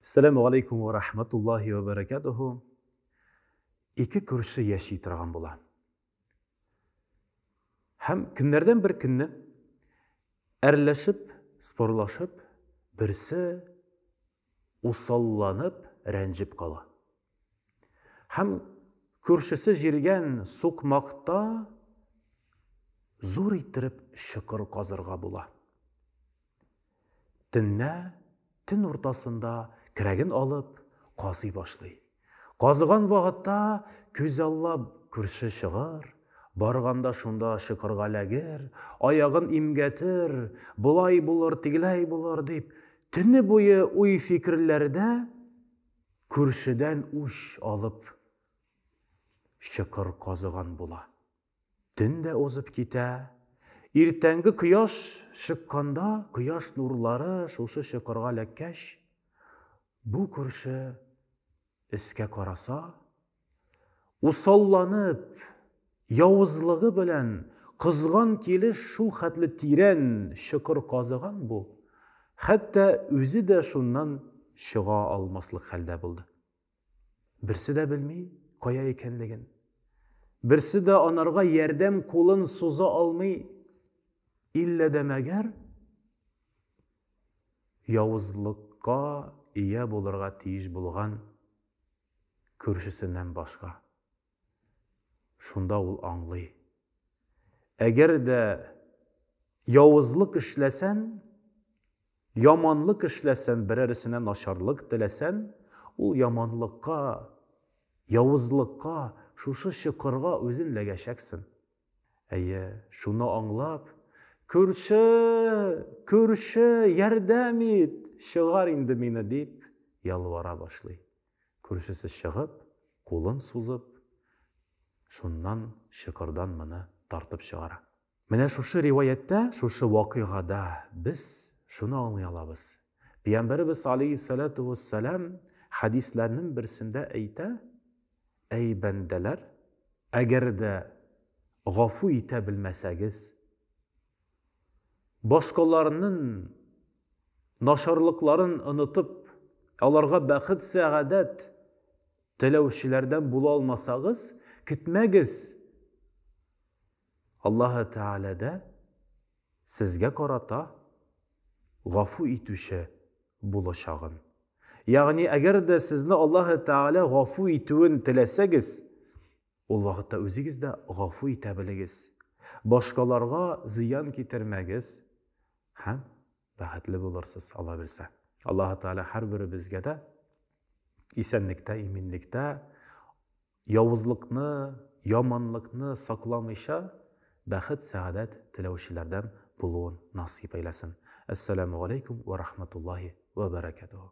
Сәләму алейкум ва рахматуллахи ва баракатуху. Ике күрше яши торган була. Һәм көннәрдән бер көнне әрләшеп, спорлашып, берсе усалланып, рәнҗеп кала. Һәм күршесе җиргән сукмакта зур иттереп чокыр казырга була. Төнлә, төн уртасында керәген алып, казый башлый. Казыган вакытта күзаллап күрше чыгар, барганда шунда чокырга эләгер, аягын имгәтер, болай булыр, тегеләй булыр, дип, төне буе уй-фикерләрдә күршедән үч алып чокыр казыган була. Төн дә узып китә. Иртәнге кояш чыкканда, кояш нурлары шушы чокырга эләккәч, бу күрше өскә караса, усалланып, явызлыгы белән кызган килеш шул хәтле тирән чокыр казыган бу, хәтта үзе дә шуннан чыга алмаслык хәлдә булды. Берсе дә белми, кая икәнлеген. Берсе дә анарга ярдәм кулын суза алмый. Иллә дә мәгәр явызлыкка ия булырга тиеш булган күршесеннән башка. Шунда ул аңлый. Әгәр дә явызлык эшләсән, яманлык эшләсән, берәресенә начарлык теләсән, ул яманлыкка, явызлыкка, шушы чокырга үзен ләгәчәксен. Әйе, шуны аңлап, күрше, күрше, ярдәм ит, чыгар инде мине, дип ялвара башлый. Күршесе чыгып, кулын сузып, шуннан чокырдан моны тартып чыгара. Менә шушы риваятьтә, шушы вакыйгада без шуны аңлый алабыз, Пиямбәребез аләйһиссәләтү уәссәлам хәдисләрнең берсендә әйтә, Әй бәндәләр! Әгәр дә гафу итә белмәсәгез, Башкаларның начарлыкларын онытып, аларга бәхет-сәгадәт теләүчеләрдән була алмасагыз, көтмәгез, Аллаһы Тәгалә дә сезгә карата гафу итүче булачагын. Ягъни, әгәр дә сезне Аллаһы Тәгалә гафу итүен теләсәгез, Ул вакытта үзегез дә гафу итә белегез, башкаларга зыян китермәгез һәм бәхетле булырсыз, Алла белсә. Аллаһы Тәгалә һәрберебезгә дә исәнлектә, иминлектә, явызлыкны, яманлыкны сакламыйча, бәхет, сәгадәт теләүчеләрдән булуын насыйп әйләсен. Әссәламү галәйкүм вә рахматуллаһи вә бәрәкәтүһү.